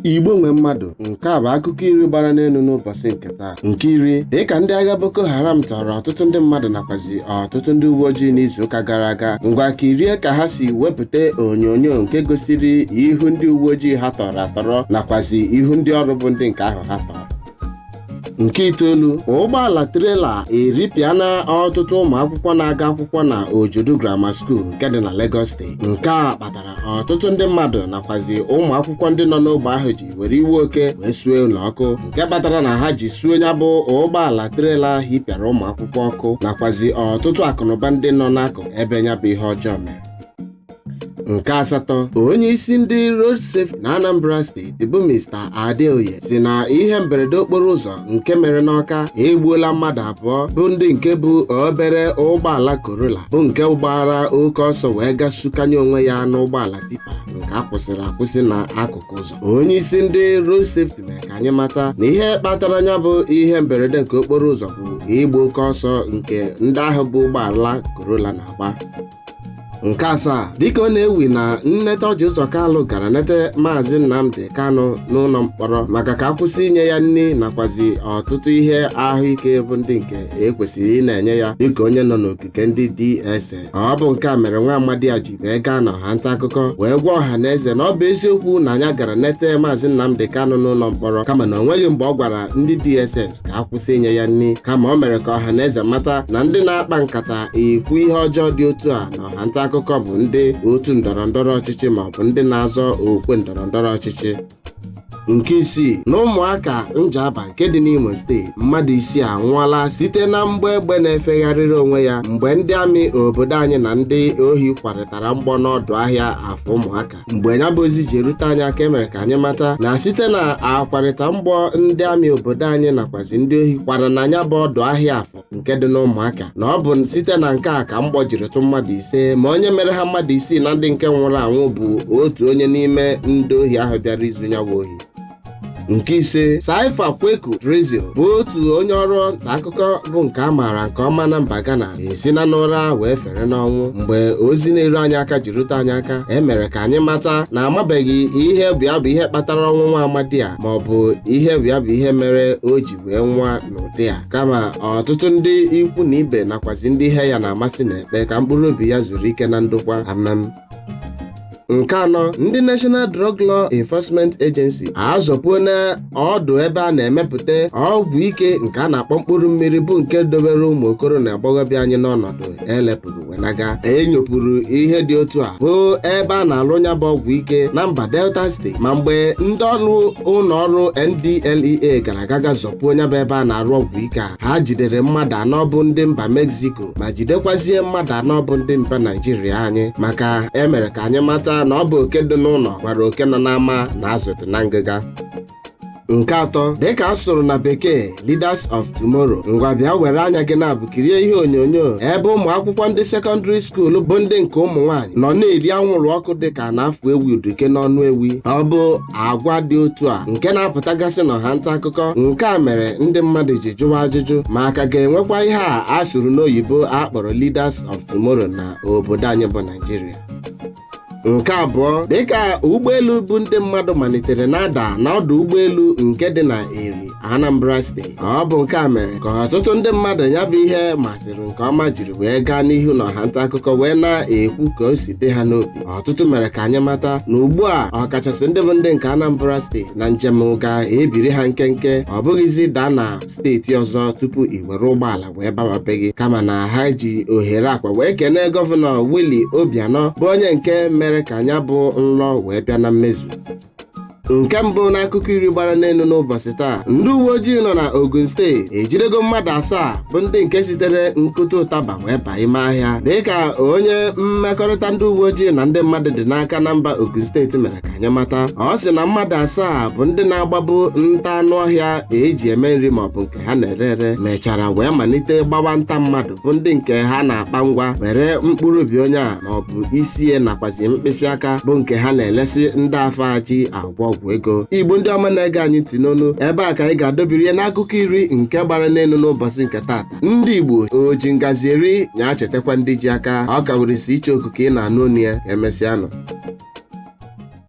Igbo nwe mmadụ nke a bụ akụkọ iri gbara n'elu n'ụbọchị nke taa nke iri dịka ndị agha Boko Haram tọrọ ọtụtụ ndị mmadụ nakwazi ọtụtụ ndị uwe ojii n'izuụka gara aga ngwa kirie ka ha si wepụta onyonyo nke gosiri ihu ndị uwe ojii ha tọrọ atọrọ nakwazi ihu ndị ọrụ bụ ndị nke ahụ ha tọrọ nke itoolu ụgbọala trela eripịana ọtụtụ ụmụ akwụkwọ na-aga akwụkwọ na ojodu grammar school nke dị na Lagos steeti nke a kpatara ọtụtụ ndị mmadụ nakwazi ụmụ akwụkwọ ndị nọ n'ogbe ahụ ji were iwe oke wee suo ụlọ ọkụ nke kpatara na ha ji suo ya bụ ụgbọala trela hipịara ụmụ akwụkwọ ọkụ nakwazi ọtụtụ akụnụba ndị nọ n'akụkụ ebe ya bụ ihe ọjọọ mere nke asatọ onye isi ndị road safety na anambra steeti bụ mr adeoye sị na ihe mberede okporo ụzọ nke mere n'ọka egbuola mmadụ abụọ bụ ndị nke bu obere ụgbọala corolla bụ nke gbara oke ọsọ wee gaa sukanye onwe ya n'ụgbọala tipa nke a kwụsịrị akwụsị na akụkụ ụzọ onye isi ndị road safety mere ka anyị mata na ihe kpatara ya bụ ihe mberede nke okporo ụzọ bụ ịgba oke ọsọ nke ndị ahụ bu ụgbọala corolla na-agba nke asaa dịka ọ na-ewu na nneta ọjị ụzọ kalụ gara nete maazị nnamdi kanụ n'ụlọ mkpọrọ maka ka a kwụsị inye ya nri nakwazi ọtụtụ ihe ahụike bụ ndị nke e kwesịrị ịna-enye ya dịka onye nọ n'ogige ndị dss ọ bụ nke a mere nwa amadi a ji wee gaa na ọha nta akụkọ wee gwa ọha na eze na ọ bụ eziokwu na nya gara nete maazị nnamdi kanụ n'ụlọ mkpọrọ kama na o nweghị mgbe ọ gwara ndị dss ka a kwụsị inye ya nri kama o mere ka ọha na eze mata na ndị na-akpa nkata ikwu ihe ọjọọ dị otu a na ọha nta akụkọ bụ ndị otu ndọrọ ndọrọ ọchịchị ma ọ bụ ndị na-azọ okwe ndọrọ ndọrọ ọchịchị nke isii na ụmụaka njaba nke dị n'imo steeti mmadụ isii anwụọla site na mgbọ egbe na-efegharịrị onwe ya mgbe ndị amị obodo anyị na ndị ohi kwarịtara mgbọ n'ọdụ ahịa afọ ụmụaka mgbe ya bụ ozi ji erute anyị aka e mere ka anyị mata na site na akwarịta mgbọ ndị amị obodo anyị nakwazi ndị ohi kwara na ya bụ ọdụ ahịa afọ nke dị n'ụmụaka na ọ bụ site na nke a ka mgbọ jiri tụ mmadụ ise ma onye mere ha mmadụ isii na ndị nke nwụrụ anwụ bụ otu onye n'ime ndị ohi ahụ bịara izu nyawa ohi nke ise Saifa Kweku Drizzle bụ otu onye ọrụ nta akụkọ bụ nke a maara nke ọma na mba Ghana esina n'ụra wee fere n'ọnwụ mgbe ozi na-eru anyị aka ji rute anyị aka e mere ka anyị mata na amabeghị ihe bụ ya bụ ihe kpatara ọnwụ nwa amadi a ma ọ bụ ihe bụ ya bụ ihe mere o ji wee nwụa n'ụdị a kama ọtụtụ ndị ikwu na ibe nakwazi ndị ihe ya na-amasị na-ekpe ka mkpụrụ obi ya zuru ike na ndokwa amen nke anọ ndị National Drug Law Enforcement Agency azọpuona ọdụ ebe a na-emepụta ọgwụ ike nke a na-akpọ mkpụrụ mmiri bụ nke dobere ụmụ okoro na agbọghọbịa anyị n'ọnọdụ elepụrụ wee na-aga e nyopụrụ ihe dị otu a bụ ebe a na-alụ nya bụ ọgwụ ike na mba Delta steeti ma mgbe ndị ọrụ ụlọ ọrụ NDLEA gara aga zọpuo nya bụ ebe a na-arụ ọgwụ ike a ha jidere mmadụ anọ bụ ndị mba Mexico ma jidekwazie mmadụ anọ bụ ndị mba naijiria anyị maka e mere ka anyị mata na ọ bụ oke dị n'ụlọ gwara oke nọ n'ama na azụ dị na ngịga nke atọ dịka a sụrụ na bekee leaders of tomorrow ngwa bịa were anya gị naabọ kirie ihe onyonyo ebe ụmụ akwụkwọ ndị sekọndịrị skuul bụ ndị nke ụmụ nwaanyị nọ na-eri anwụrụ ọkụ dịka a na-afụ ewi uduke n'ọnụ ewi ọ bụ agwa dị otu a nke na-apụtagasị n'ọha nta akụkọ nke a mere ndị mmadụ ji jụwa ajụjụ ma a ka ga-enwekwa ihe a a sụrụ n'oyibo a kpọrọ leaders of tomorrow na obodo anyị bụ Naịjirịa nke abụọ dịka ụgbọelu bu ndị mmadụ malitere na-ada n'ọdụ ụgbọelu nke dị na eri Anambra steeti ọ bụ nke a mere ka ọtụtụ ndị mmadụ nya bụ ihe masịrị nke ọma jiri wee gaa n'ihu n'ọha nta akụkọ wee na-ekwu ka o si dị ha n'obi ọtụtụ mere ka anyị mata na ugbu a ọkachasị ndị bụ ndị nke Anambra steeti na njem ga-ebiri ha nkenke ọ bụghịzi daa na steeti ọzọ tupu i were ụgbọala wee bawa be gị kama na ha ji ohere a kwa wee kenee gọvanọ Willie Obianọ bụ onye nke mere ka nya bụ nlọ wee bịa na mmezu nke mbụ n'akụkọ iri gbara n'elu n'ụbọsị taa ndị uwe ojii nọ na Ogun steeti ejidego mmadụ asaa bụ ndị nke sitere nkụta ụtaba wee baa ime ahịa dịka onye mmekọrịta ndị uwe ojii na ndị mmadụ dị n'aka na mba Ogun steeti mere ka anyị mata ọ sị na mmadụ asaa bụ ndị na-agbabu nta anụ ọhịa e ji eme nri maọbụ nke ha na-ere ere mechara wee malite gbawa nta mmadụ bụ ndị nke ha na-akpa ngwa were mkpụrụ obi onye a ma ọ bụ isi ya nakwazi mkpịsị aka bụ nke ha na-elesi ndị afụ ji agwọ ọgwụ ego igbo ndị ọma na-ege anyị ntị n'onu ebe a ka anyị ga-adọbiri ya n'akụkọ iri nke gbara n'elu n'ụbọsị nke taata ndị igbo o ji ngazi eri nya chetakwa ndị ji aka ọ ka were isi icheoku ka ị na-anụ onu ya ka emesịanụ